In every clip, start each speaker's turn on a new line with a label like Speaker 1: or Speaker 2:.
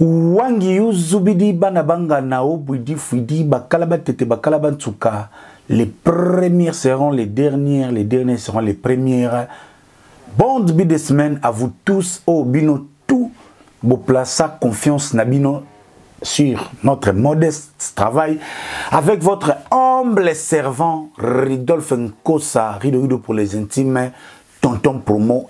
Speaker 1: wangi yu zubidi bana banga na o bwidi fwidi bakala batete bakala bantsuka les premiers seront les dernières les derniers seront les premières bon début de semaine à vous tous o oh, bino tout boplaça confiance na bino sur notre modeste travail avec votre humble servant Ridolphe Nkosa, Rido Rido pour les intimes, Tonton Promo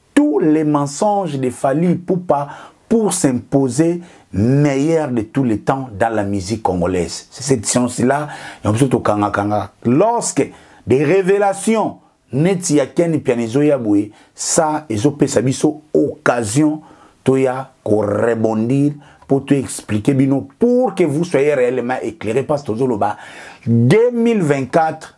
Speaker 1: tous les mensonges de Fally Ipupa pour s'imposer meilleur de tous les temps dans la musique congolaise. C'est cette science-là, lorsque des révélations neti ya Ken Mpiana ezoya boye ça ezopesa biso occasion toya ko rebondir pour te expliquer bino pour que vous soyez réellement éclairé parce que tozoloba 2024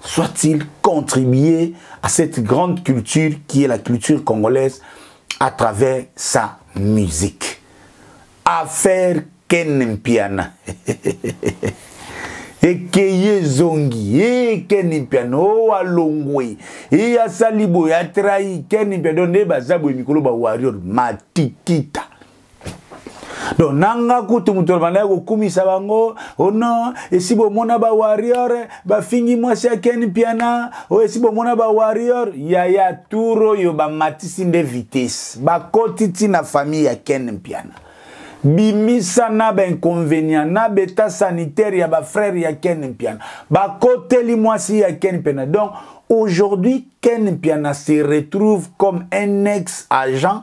Speaker 1: soit-il contribuer à cette grande culture qui est la culture congolaise à travers sa musique. Affaire Ken Mpiana. ekeye ezongi e keni mpiano o alongwe e asali boye atrai keni mpiano nde baza boye mikolo bawarrior matikita donc nanga kutu moto bandaki kokumisa bango ono oh esi bomona bawarrior bafingi mwasi ya ken piana o oh, esi bomona bawarrior yaya tour oyo bamatisi nde vitesse bakoti ti na famille ya ken mpiana bimisa na bainconvénient na beta sanitaire ya bafrère ya ken mpiana bakoteli mwasi ya ken mpiana donc aujourd'hui ken mpiana se retrouve comme un ex agent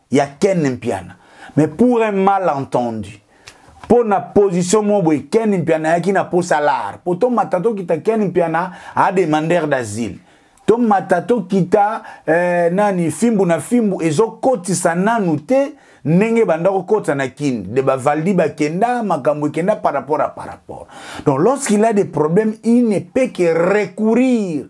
Speaker 1: ya ken mpiana mais pour un mal entendu mpo na position moko boye ken mpiana ayaki na mposa lar mpo tomata tokita ken mpiana ademander d'asile tomata tokita eh, nani fimbu na fimbu ezokotisa nanu te ndenge banda kokota na kin de bavaldi bakenda makambo ekenda par rapport à par rapport donc lorsqu'il a des problèmes il ne peut que recourir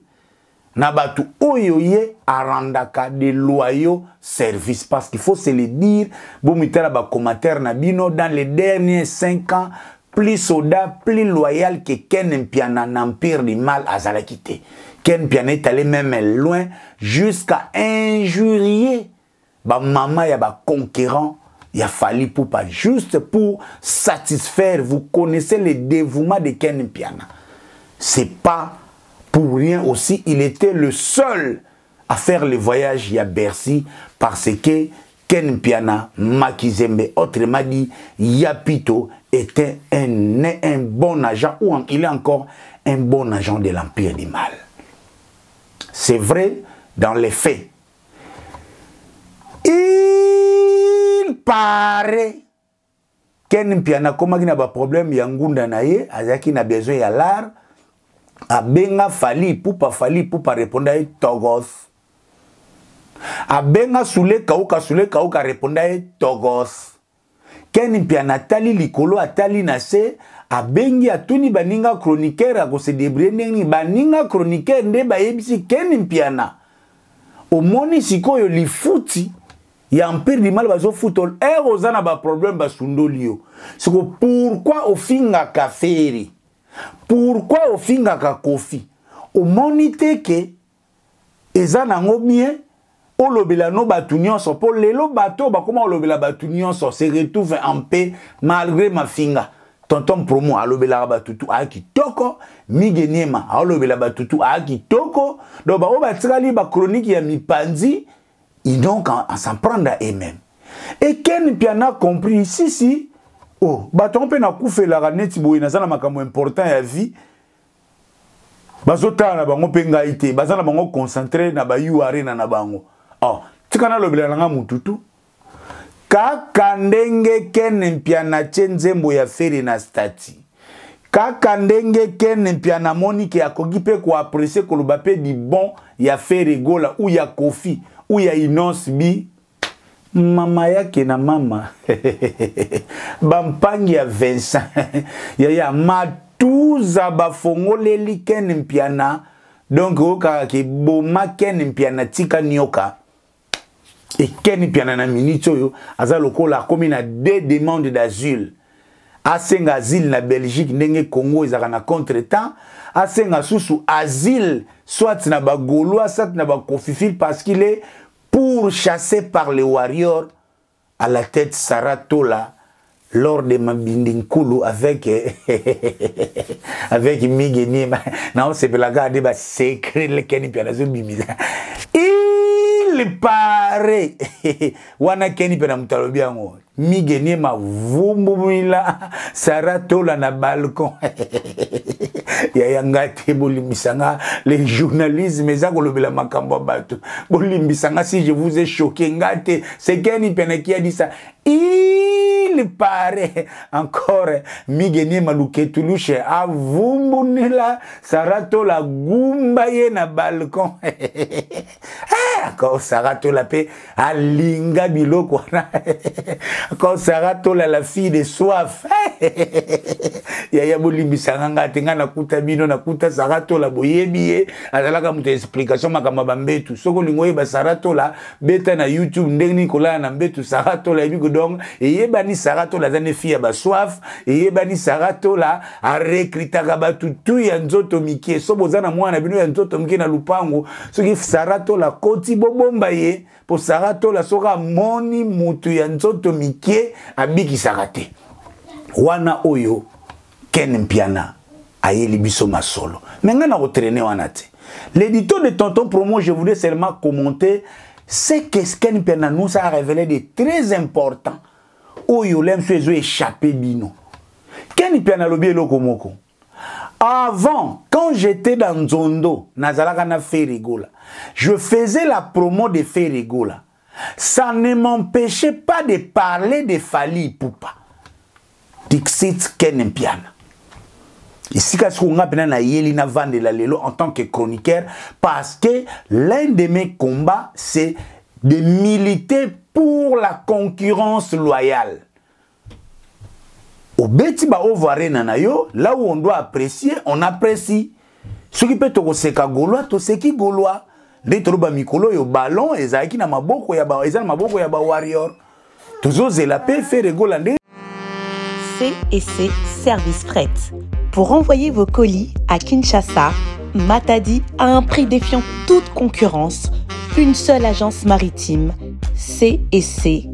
Speaker 1: na bato oyo ye arandaka de loyaux service parce qu'il faut se le dire bomitala bacommentaire na bino dans les derniers 5 ans plus soda plus loyal que ken mpiana na empire du mal azalaki te ken mpiana est allé même loin jusqu'à injurier ba mama ya ba conquérant ya Fally Poupa juste pour satisfaire vous connaissez le dévouement de Ken Mpiana c'est pas pour rien aussi il était le seul à faire le voyage ya Bercy parce que Ken Mpiana Makizembe autrement dit Yapito était un, un bon agent ou en, il est encore un bon agent de l'empire du mal c'est vrai dans les faits il paraît ken mpiana akomaki na baproblème ya ngunda na ye azalaki na besoin ya lar abenga fali pupa fali pupa reponda ye togos abenga sule kauka sule kauka reponda ye togos ken mpiana atali likolo atali na se abengi atuni baninga chroniqueur akosedebrie ndenge nini baninga chroniqueur nde bayebisi ken mpiana omoni sikoyo lifuti ya empire du mal bazofuta ere oza na baproblème basundoli yo siko pourkui ofingaka feri pourkui ofingaka kofi omoni te ke eza nango bien olobela no bato nyonso mpo lelo bato oyo bakoma kolobela bato nyonso se retrouve en paix malgré mafinga tonton promo alobelaka batutu aya kitoko mige niema aolobela batutu aya kitoko donc baoyo batikali bachronique ya mipanzi ils donc en s'en prendre à eux-mêmes et ken mpiana compris sisi oh bato yango mpe nakufelaka neti boye naza na makambo important ya vie bazotala na bango mpe ngai te baza na bango concentre na bayu arena na bango oh, tika nalobela na ngai motu tu kaka ndenge ken mpiana tye nzembo ya fere na stati kaka ndenge ken mpiana amoni ke akoki mpe koaprecie koloba mpe libon ya fere gola u ya kofi u ya inonce bi mama yake na mama bampangi ya vincent yaya matuza bafongoleli ken mpiana donc oyokaka keboma ken mpiana tika nioka ekeni mpiana na minute oyo aza lokola akomi na deux demande d'asile asenga asile na belgique ndenge congo ezalaka na contre temps asenga susu asile soit na bagaulois soit na bacofifile parce qu'il est pour chasser par les warriors à la tête Sarah Tola lors de Mabindi Nkulu avec avec Migue Niema na osepelaka de ba secret lekeni pia nazo bimisa il paraît wana keni pia na mutalobi yango Migue Niema vumbumila Sarah Tola na balcon yaya nga te bolimbisa nga le journalisme eza kolobela makambo ya bato bolimbisa nga si je vous ai choqué nga te sekeni pene qui a dit ça il paraît encore Migue Niema Luketuluche avumbunila Sarah Tola gumba ye na balcon Eh, akosaka tola mpe alinga biloko wana akosaka tola la fille de soif yaya bolimbisanga ngai te ngai nakuta bino nakuta sara tola boyebi ye azalaka moto ya explication makambo ya bambetu soki olingi oyeba sara tola beta na youtube ndenge nini kolala na mbetu sara tola yebi kodonk eyebani sara tola aza ne fille ya basoif eyebani sara tola arekritaka bato tu ya nzoto mike so boza na mwana bino ya nzoto mike na lupango soki sara tola koti bobomba ye mpo sara tola soki amoni motu ya nzoto mike abikisaka te wana oyo ken mpiana ayeli biso masolo me ngai nakotraine wana te l'édito de tonton promo je voulais seulement commenter ce que ken mpiana nous a révélé de très important oyo lemso ezo échappe bino keni mpe analobi eloko moko Avant, quand j'étais dans Nzondo, Nazalaka na Ferregola, je faisais la promo de Ferregola. Ça ne m'empêchait pas de parler de Fali Poupa. Dixit Ken Mpiana. esika sikoyo nga mpena nayeli navandela lelo en tant que chroniqueur parce que l'un de mes combats c'est de militer pour la concurrence loyale obeti baovo arena na yo là où on doit apprécier on apprécie soki mpe tokoseka golois toseki golois nde toloba mikolo oyo ballon ezalaki na maboko ya ba, eza na maboko ya bawarrior tozozela mpe feregola nde
Speaker 2: CEC Service Fret. Pour envoyer vos colis à Kinshasa, Matadi a un prix défiant toute concurrence. Une seule agence maritime, CEC.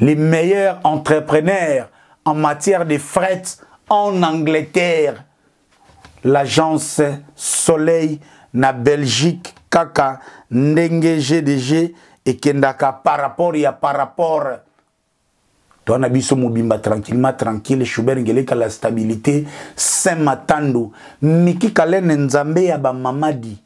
Speaker 1: les meilleurs entrepreneurs en matière de fret en Angleterre. L'agence Soleil na Belgique kaka ndenge GDG ekendaka par rapport ya par rapport toi na biso mobimba tranquillement tranquille Schubert Ngeleka la stabilité Saint Matandu Miki Kalene Nzambe ya ba mamadi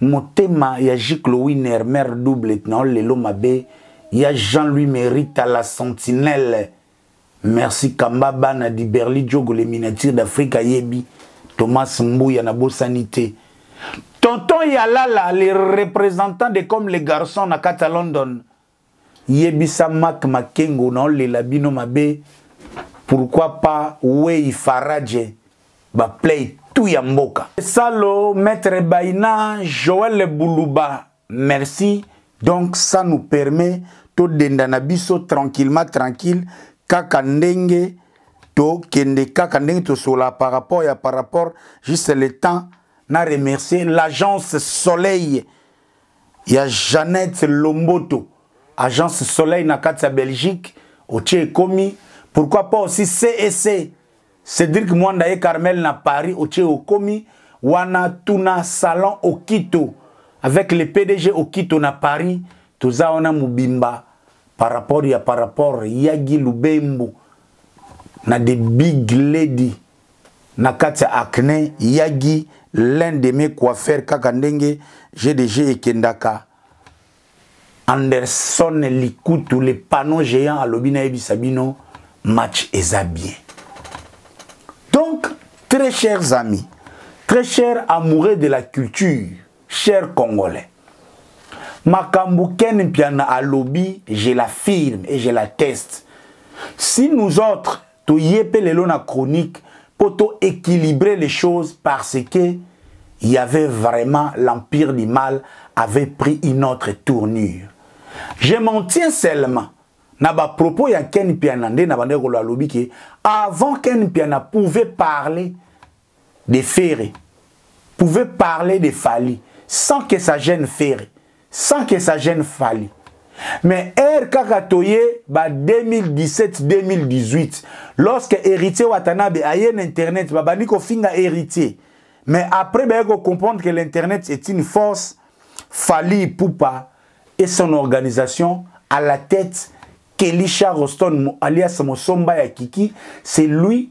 Speaker 1: motema ya jiclo winer mare doublet na olelo mabe ya jean louis merita la sentinelle merci kamba bana di berli diogo le miniature d'afrique ayebi thomas mbuya na bosani te tonton yalala le représentant de comme le garçon na kati ya london yebisa mak makengo naolela bino mabe pourquoi pas wei faraje baplay tout ya mboka salo maître baina joel buluba merci donc ça nous permet todenda na biso tranquillement tranquille kaka ndenge tokende kaka ndenge tosola par rapport ya par rapport juste le temps na remercier l'agence soleil ya Jeannette Lomboto agence Soleil na kati ya Belgique otie ekomi pourquoi pas aussi CEC Cédric Mwanda et Carmel na Paris otie okomi wana tuna salon Okito avec le PDG Okito na Paris toza wana mobimba par rapport ya par rapport Yagi Lubembo na the big lady na kati ya acne yagi l'un de mes coiffeurs kaka ndenge gdg ekendaka anderson likutu le panneau géant alobi nayebisa bino match eza bien donc très chers amis très chers amoureux de la culture chers congolais makambo ken mpiana alobi je l'affirme et je la teste si nous autres toye mpe lelo na chronique mpo to équilibrer les choses parce que il y avait vraiment l'empire du mal avait pris une autre tournure je m'en tiens seulement na bapropos ya ken mpiana nde na bandaki koloba alobi ke avant ken mpiana pouvait parler de Ferre pouvait parler de Fally sans que ça gêne Ferre, sans que ça gêne Fally. Mais heure kaka toye ba 2017-2018 lorsque héritier Watanabe aye na internet babandi kofinga héritier mais après baye ko comprendre que l'internet est une force Fally Ipupa et son organisation à la tête Kelisha Roston alias Mosomba ya Kiki c'est lui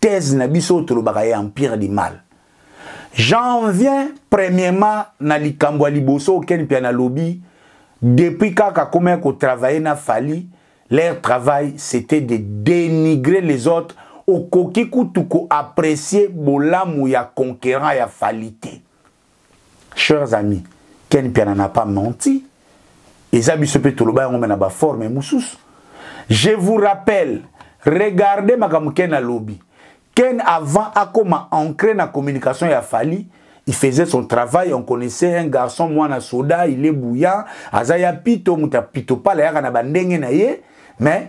Speaker 1: thèse na biso oyo tolobaka ya empire du mal j'en viens premièrement na likambo ya liboso okeni mpe nalobi depuis kaka komaki kotravaille na fali leur travail c'était de dénigrer les autres okoki kutu koapprécie bolamu ya conquérant ya fali te chers amis ken mpiana n'a pas menti eza biso mpe toloba yango me na baforme mosusu je vous rappelle regardez makambo ken alobi ken avant akoma ancré na communication ya fali il faisait son travail on connaissait un garçon mwana soda il est bouillant aza ya pito moto ya pito pala yaka na bandenge na ye mais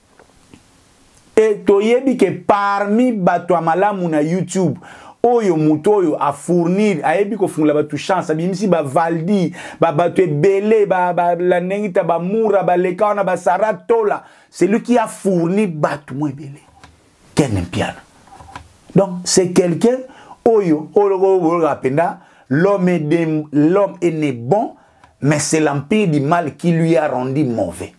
Speaker 1: e toyebi ke parmi bato ya malamu na youtube oyo moto oyo afournir ayebi kofungola bato chance abimisi bavaldi babato ebele balandengita ba, ba bamura baleka wana basara tola celui qui a fourni bato mo ebele ken mpiana donc c'est quelqu'un oyo olokoloka mpenza l'homme est né bon mais c'est l'empire du mal qui lui a rendu mauvais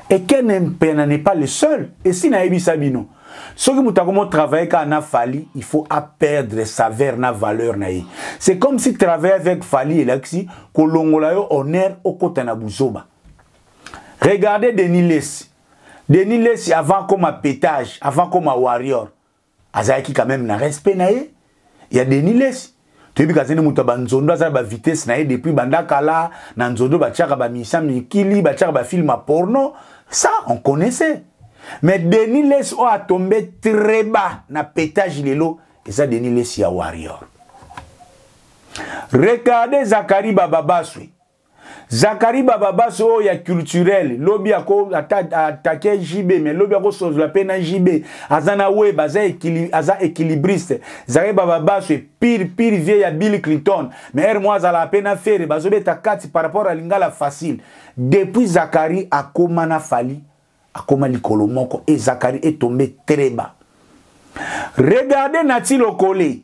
Speaker 1: et ken mpena n'est pas le seul esi nayebisa bino soki moto akomo travaille kaka na fali il faut aperdre saveur na valeur na ye c'est comme si travaille avec fali elakisi kolongola yo honneur okota na buzoba regardez denis lesi denis lesi avant akoma pétage avant akoma warrior azalaki quand même na respect na ye ya denis lesi toyebi kaza nde moto ya banzondo aza na bavitesse na ye depuis banda kala na nzondo batiaka bamisia mikili batiaka bafilme ya porno ça on connaissait mais denis lesi oyo atombe très bas na petage lelo eza denis lesi ya warrior regarde zakari bababaswe Zakari Bababas oyo ya culturel lobi ako atake JB mais lobi ako sozola pe na JB aza na web aza équilibre aza équilibriste Zakari Bababas pire pire vieux ya Bill Clinton mais er moi azala pe na ferre bazo beta kati par rapport à lingala facile depuis Zakari akoma na Fally akoma likolo moko et Zakari est tombé très bas regardez Nati Lokole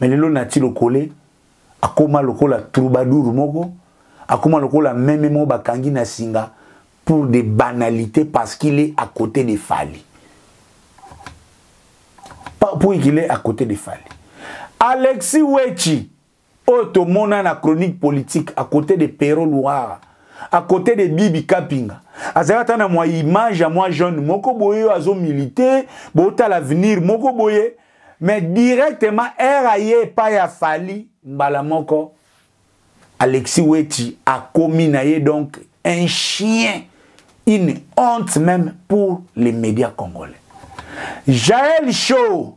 Speaker 1: mais lelo nati lokole akoma lokola troubadour moko akoma lokola meme moko bakangi na singa pour des banalités parce qu'il est à côté de Fali. Pour qu'il est à côté de Fali. Alexis Wechi, oyo tomona na chronique politique à côté de Pero Luara à côté de Bibi Kapinga azalaki ata na mwa image ya mwa jeune moko boye oyo azo milite botala avenir moko boye mais directement ere aye epai ya fali mbala moko alexis weti akomi na ye donc un chien une honte même pour les médias congolais jael show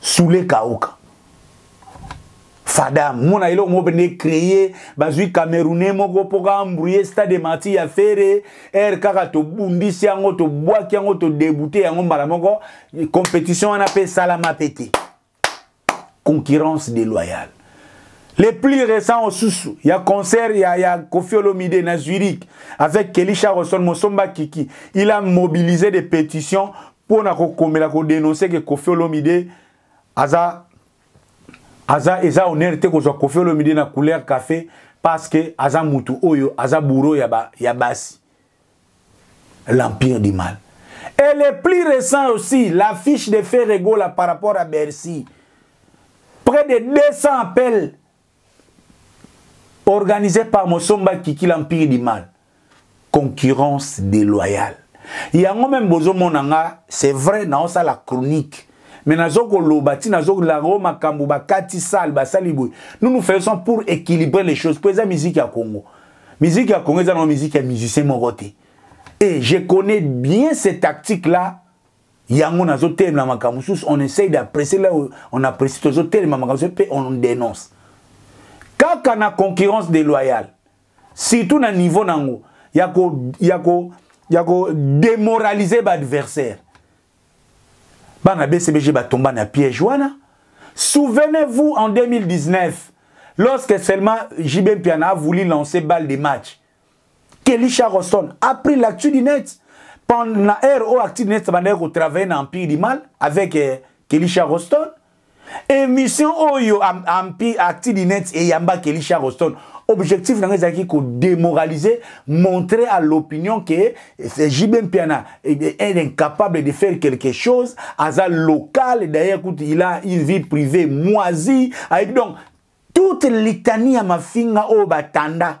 Speaker 1: sule kauka fada mona eloko moko pende créer bazwi camerounais moko mpo kaambrouye stade de marti ya fere aire kaka tobundisi yango tobwaki yango todebute yango mbala moko compétition wana mpe esalama mpe te concurrence déloyale les plus récents osusu ya concert ya, ya kofi olomide na zurich avec kelly charlson mosomba kiki il a mobilisé des pétitions mpo na kokomela kodenonse ke kofi olomide aza aza eza honneur te kozwa kofi olomide na couleur café parce que aza mutu oyo aza bouro ya, ba, ya basi l'empire du mal. Et le plus récent aussi, l'affiche de Ferre Gola par rapport à Bercy. Près de 200 appels organisés par Mosomba Kiki, l'empire du mal. Concurrence déloyale. yango meme bozomona nga c'est vrai naosala chronique mais nazokoloba ti nazolango makambo bakati sale basali boye nous nous faisons pour équilibrer les choses mpo eza miziki ya congo Musique ya Congo eza na musique ya musicien moko te. Et je connais bien ces tactiques là. Yango nazo telema makambo sous on essaye d'apprécier là on apprécie tozo telema makambo pe on dénonce. Kaka na concurrence déloyale. Surtout na niveau nango yako yako yako démoraliser ba adversaire. bana bcbg batomba na piège wana souvenez-vous en 2019 lorsque seulement jb mpiana a voulu lancer balle de match kelly charleston a pris l'actu du net na heure oyo actu du net bandaki kotravaille na empire du mal avec eh, kelly charleston émission oyo ampi acti dinette eyamba kelly charleston objectif na ngai ezalaki kodémoraliser montrer à l'opinion que jb mpiana est incapable de faire quelque chose aza local d'ailleurs kutu il a une vie privée moisi ayebi donc toute litanie ya mafinga oyo batanda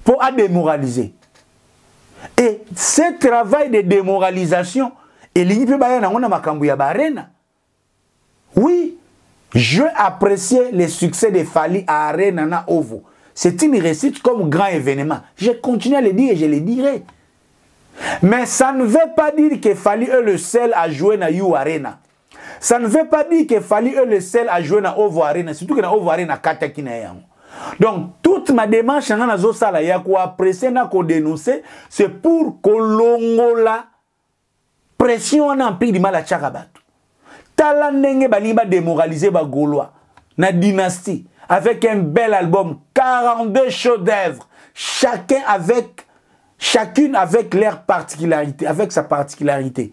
Speaker 1: mpo ademoralize et ce travail de démoralisation elingi mpe baya nango na makambo ya barena oui je apprécier le succès de fali à arena na ovo c'est une réussite comme grand événement je continue à le dire et je le dirai mais ça ne veut pas dire que fali est le seul à jouer na you arena ça ne veut pas dire que fali est le seul à jouer na ovo arena surtout que na ovo arena akataki na ye yango donc toute ma démarche nanga nazosala ya koaprecie na kodénonce c'est pour kolongola pression wana mpili mal atyaka bato tala ndenge balingi badémoralise bagaulois na dynastie avec un bel album 42 chaux d'œuvre chacun avec chacune avec leur particularité avec sa particularité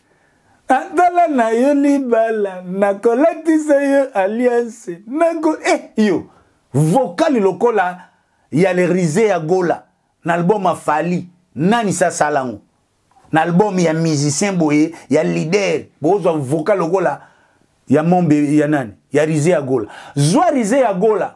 Speaker 1: nazala na yo libala nakolatisa yo alliance nako e eh, yo vokali lokola ya le rise ya gola na album afali nani sasala yango na album ya musicien boye ya leader bozwa vokali lokola ya mombe ya nani ya rise ya gola zwa rise ya gola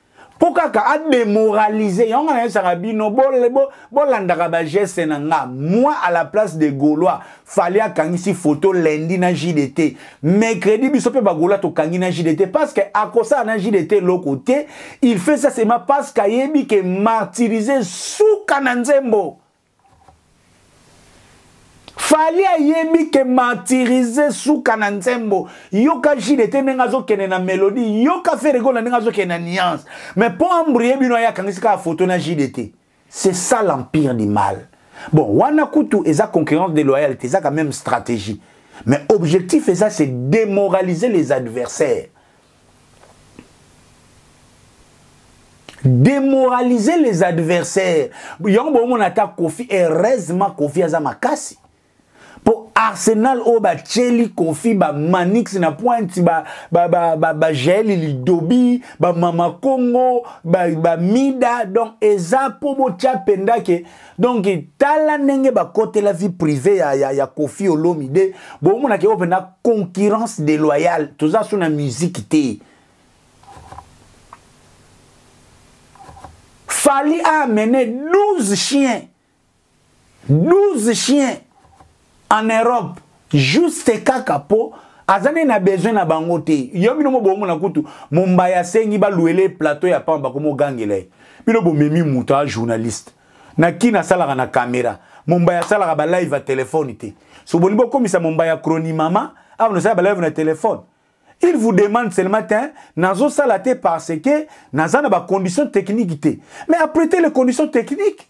Speaker 1: mpo kaka ademoralize yango nga nayesaka bino bolandaka bo, bageste na nga moi à la place de gaulois fali akangisi photo lendi na jdt mercredi biso mpe bagaulois tokangi na jdt parce que akosala na jdt eloko te il fait ça seulement parce que ayebi ke martyrise suka na nzembo fali ayebi ke martyrise suka na nzembo yoka jide te ndenge azokende na melodie yoka feregola ndenge azokende na nuance mais mpo ambrie bino aye akangisi kaka foto na jide te c'est ça l'empire du mal bon wana kutu eza concurrence déloyale te ezaka même stratégie mais objectif eza c'est démoraliser les adversaires demoraliser les adversaires yango bomona ata kofi heureusement kofi aza makasi mpo arsenal oyo batieli kofi bamanix na pointe bajaeli lidobi bamama kongo bamida donc eza mpo botya mpenza ke donc tala ndenge bakotela vie privée ya, ya, ya kofi olomide bomonaka yango mpenza concurrence déloyale toza so na musike te fali a amene 12 chiens 12 chiens en Europe juste kaka po aza nde na besoin na bango te yo bino mo bomona kutu mombaya asengi baluele plateau ya pamba komogangela ye bino bomemi moto ya journaliste na kini asalaka na kamera mombaya asalaka balive ya telefone te so bolingi bokomisa mombaya croni mama awa nosala balive na telefone il vous demande seulement te nazosala te parce que naza na bacondition technique te mais apprete les conditions techniques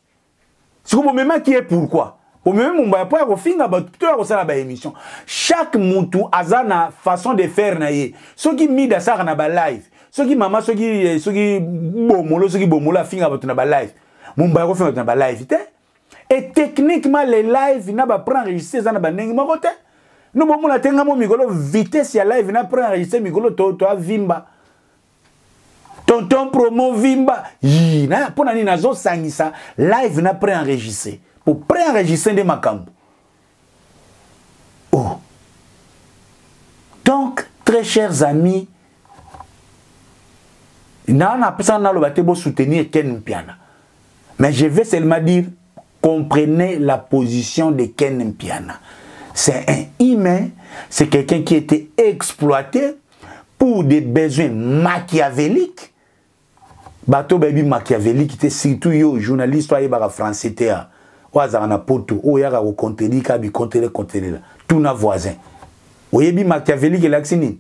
Speaker 1: siko bomemaki ye pourkui omemi mombaya mpo ya kofinga bato to ya kosala baémission chaque mutu aza na façon de faire na ye soki mide asalaka na balive soki mama soki eh, soki bomolo soki bomolo afinga bato na balive mombaya kofinga bato na balive te e techniquement les live na bapre enregistre eza na bandenge moko te no bomona te nga mo mikolo vitesse ya live na pre enregistre mikolo toavimba to tonton promo vimba yii na mpo na nini nazosangisa live na préenregistre mpo préenregistre nde makambo o oh. donc très chers amis naa napesana naloba te bosoutenir ken mpiana mais je vais seulement dire comprenez la position de ken mpiana c'est un humain c'est quelqu'un qui était exploité pour des besoins machiavéliques bato bayebi machiavélique te surtout yo journaliste oyo ayebaka français te ah. oyo azalaka na poto oyo oyaka kocontredire kaka bicontele contelela tuna voisin oyebi machiavélique elakisi nini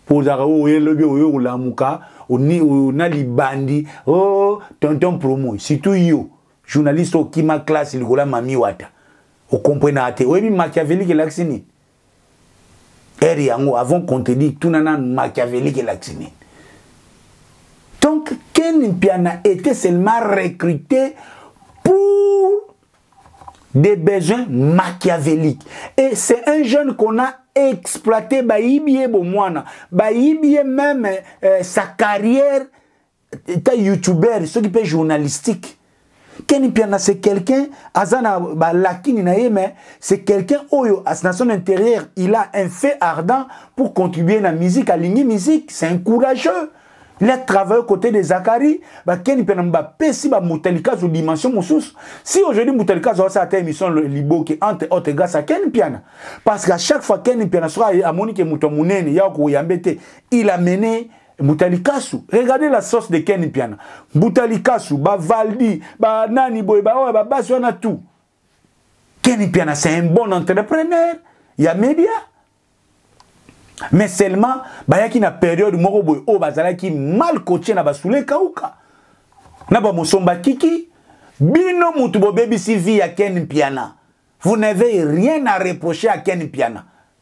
Speaker 1: mpo ozalaka oyo oh, elobi oyo kolamuka na libandi o oh, tonton promo surtout yo journaliste okima classe likolo ya mami wata okomprenaka te oyebi machiavélique elakisi nini ere yango avant contredire tuna nanu machiavélique elakisi nini donc ken mpiana était seulement recruté pour des besoins machiavéliques et c'est un jeune qu'on a exploité bayibi ye bomwana bayibi ye même euh, sa carrière ta youtubeur soki mpe journalistique keni mpiana c'est quelqu'un aza na balakini na ye mais c'est quelqu'un oyo na son intérieur il a un fait ardent pour contribuer na musique alingi musique c'est un courageux il a travaillé côté de zakari bakeni mpiana bapesi bamutalikazo dimension mosusu si aujourd'hui mutalikazo asala ata émission liboke entre autres grâce à ken mpiana parce qu'à chaque fois ken mpiana soki amoni ke moto ya monene ya koyambe te il a mené mbuta likasu regardez la sauce de ken mpiana mbuta likasu bavaldi banani boye baoyo babasi wana tout ken mpiana c'est un bon entrepreneur ya media mais seulement bayaki na periode moko boye oyo bazalaki mal coache na basula ekauka na bamosomba kiki bino mutu bobebisi vie ya ken mpiana vous n'avez rien à reprocher à ken mpiana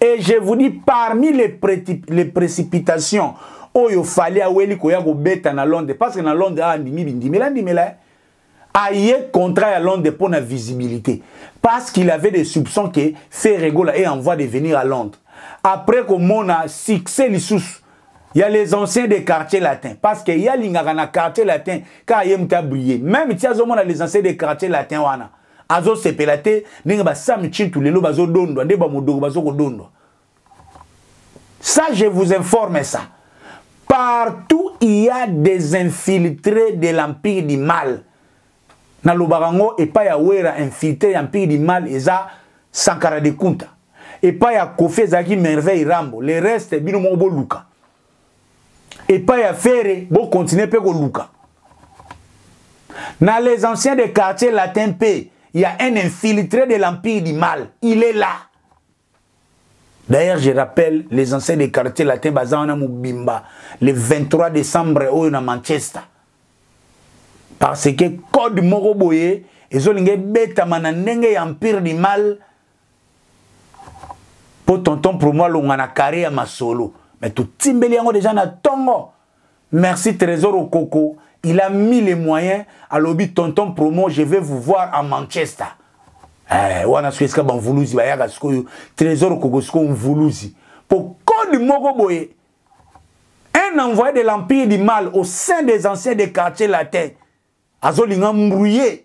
Speaker 1: et je vous dis parmi les, les précipitations oyo fali aweli koya kobeta na londres parce que na londres awa ah, andimi bindimela ndimela eh. aye contrat ya londres mpo na visibilité parce qu'il avait des soupçons que ferregola est en voie de venir à londres après komona succès lisusu Il y a les anciens des quartiers latins. Parce qu'il y a l'ingaka na quartier latin, car il y a brillé. Même si on a les anciens des quartiers latins, wana. azosepela te ndenge basami cintu lelo bazodondwa nde bamodoko bazokodondwa ça je vous informe ça partout il y a des infiltrés de l'empire du mal nalobaka yango epai ya wera infiltré ya mpire du mal eza sankara de kunta epai ya kofi ezalaki merveille rambo le reste bino moko boluka epai ya fere bokontinue mpe koluka na les anciens de quartier latin mpe ya un infiltré de l'empire du mal il est là D'ailleurs, je rappelle, les anciens des quartiers latins, Bazana Moubimba, le 23 décembre, au na Manchester. Parce que code Moroboye, ils ont beta mana nenge empire du mal, mpo tonton promo alonga na kare ya masolo me totimbeli yango deja na ntongo merci trésor okoko il a mis les moyens alobi tonton promo je vais vous voir en manchester eh, wana soki esika bamvuluzi bayaka sikoyo trésor okoko sikoyo mvuluzi mpo kode moko boye un envoyé de l'empire du mal au sein des anciens des quartiers latins azolinga mbrouiller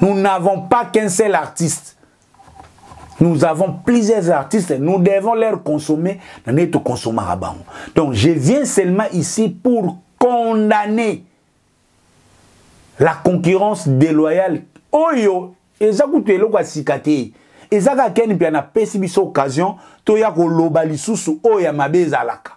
Speaker 1: Nous n'avons pas qu'un seul artiste. Nous avons plusieurs artistes, nous devons leur consommer, nous tout consommer à Donc je viens seulement ici pour condamner la concurrence déloyale. Oyo, eza kutu eloko asika te. Eza ka ken mpe na pesi biso occasion to ya ko loba lisusu oyo ya mabe ezalaka.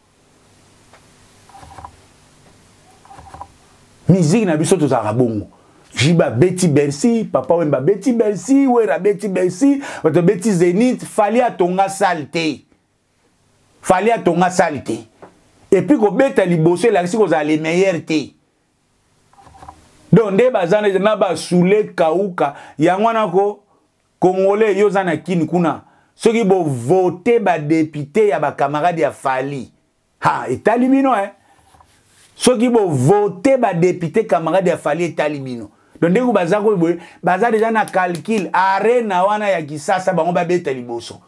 Speaker 1: miziki na biso tozalaka bongo jiba abeti bercy papa wemba abeti bercy wera abeti bercy bato abeti zenith fali atonga sale te fali atonga sale te epuis kobeta liboso elakisi kozala le meilleur te donc nde baza na basoule kauka yango wana ko Congolais yo oza na kin kuna soki bo vote ba député ya ba camarades ya Fally. Ha etali bino eh. Soki bo vote ba député camarades ya Fally etali bino. Donc ndeko baza ko boye baza déjà na calcul arena wana ya Kisasa bango ba beta liboso.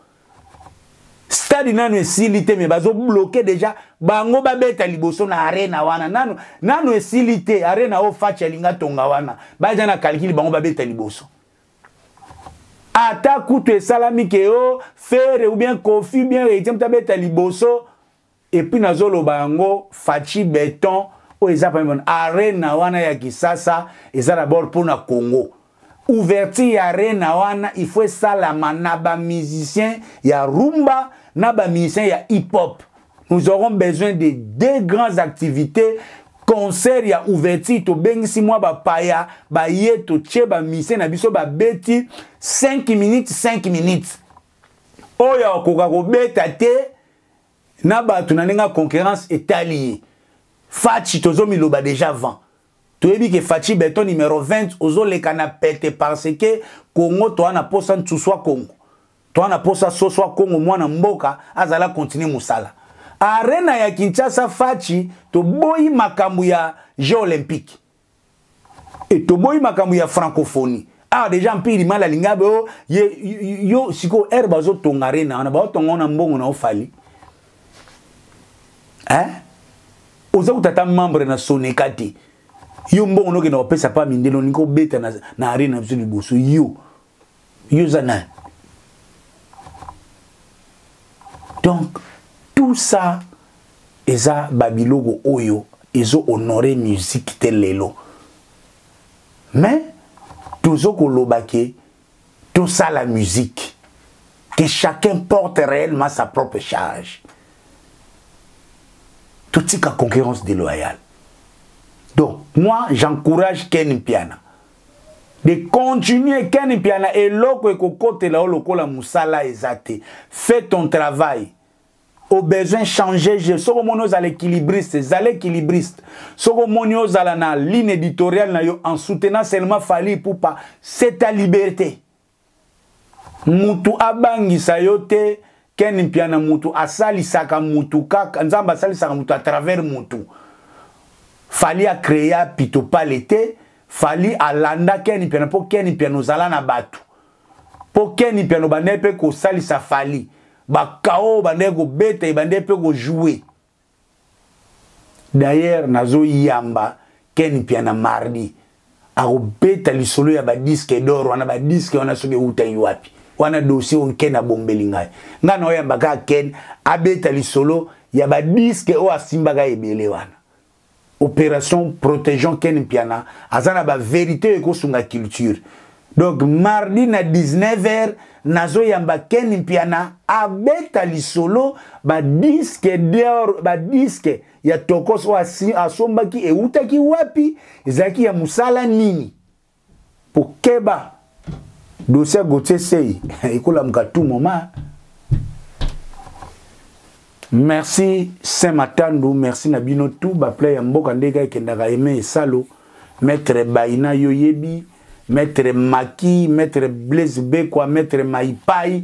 Speaker 1: Stade nanu esili te mais bazo bloquer déjà bango ba beta liboso na arena wana nanu nanu esili te arena o facha linga tonga wana baza na calcul bango ba beta liboso. ata kutu esalami ke o oh, fere ou bien kofi ou bien reitiem tabeta liboso epuis nazoloba yango faci beton oyo eza pamibona arena wana ya kisasa eza dabord mpo na congo ouverture ya arena wana il faut esalama na bamusicien ya rumba na bamusicien ya hip hop nous aurons besoin de deux grandes activités concert ya ouverture tobengisi mwa bapaya baye totie bamise na biso babeti 5 minutes 5 minutes oyo akoka kobeta te na bato na ndenge ya concurrence etali ye faci tozomiloba deja avant toyebi ke faci beton numero 20 ozoleka na pete parce ke congo toa na posa nsuswa congo Toi na posa soso akongo mwana mboka azala continue musala. Arena ya Kinshasa Fachi toboyi makambo ya Jeux olympiques. Et toboyi makambo ya francophonie. Ah déjà mpili mala lingabe oh, yo, yo siko air bazo tonga arena wana bao tonga na mbongo na ofali. Hein? Oza kutata membre na Soneka te. Yo mbongo nokenda kopesa pa mindelo niko beta na, na arena biso liboso yo. yo oza nani donc tout ça eza babiloko oyo ezo honore musique te lelo mais tozo koloba ke tosala musique que chacun porte réellement sa propre charge totika concurrence déloyale donc moi j'encourage ken mpiana de continuer ken mpiana eloko ekokotela yo lokola mosala eza te fait ton travail au besoin changer je soki omoni ozala équilibriste ezala équilibriste soki omoni ozala na ligne éditoriale na yo en soutenant seulement fali ipupa c'est ta liberté mutu abangisa yo te ken mpiana mutu asalisaka mutu kaka nzambe asalisaka mutu à travers mutu fali acrea pitopale te fali alanda ken mpiana mpo ken mpiana ozala na bato mpo ken mpiana obandaki mpe kosalisa fali bakao obandaki kobeta ebandaki mpe kojoue D'ailleurs nazo yamba Ken Mpiana mardi akobeta lisolo ya badiske dor wana badiske wana soki ewutaki wapi wana dossier oyo ken abombeli ngai ngai naoyamba kaka ken abeta lisolo ya badiske oyo asimbaka ebele wana opération protégeons ken mpiana aza na baverité oyo ekosunga culture donc mardi na 19 heures nazoyamba ken mpiana abeta lisolo badiske dor badiske ya tokos oyo asombaki eutaki wapi ezalaki ya mosala nini po keba dossier Gauthier Sey ekolamuka tout moment merci saint matandu merci na bino tout baplay ya mboka nde eka ekendaka aime esalo maître baina yo yebi maître maki maître blaise bekwa maître maipai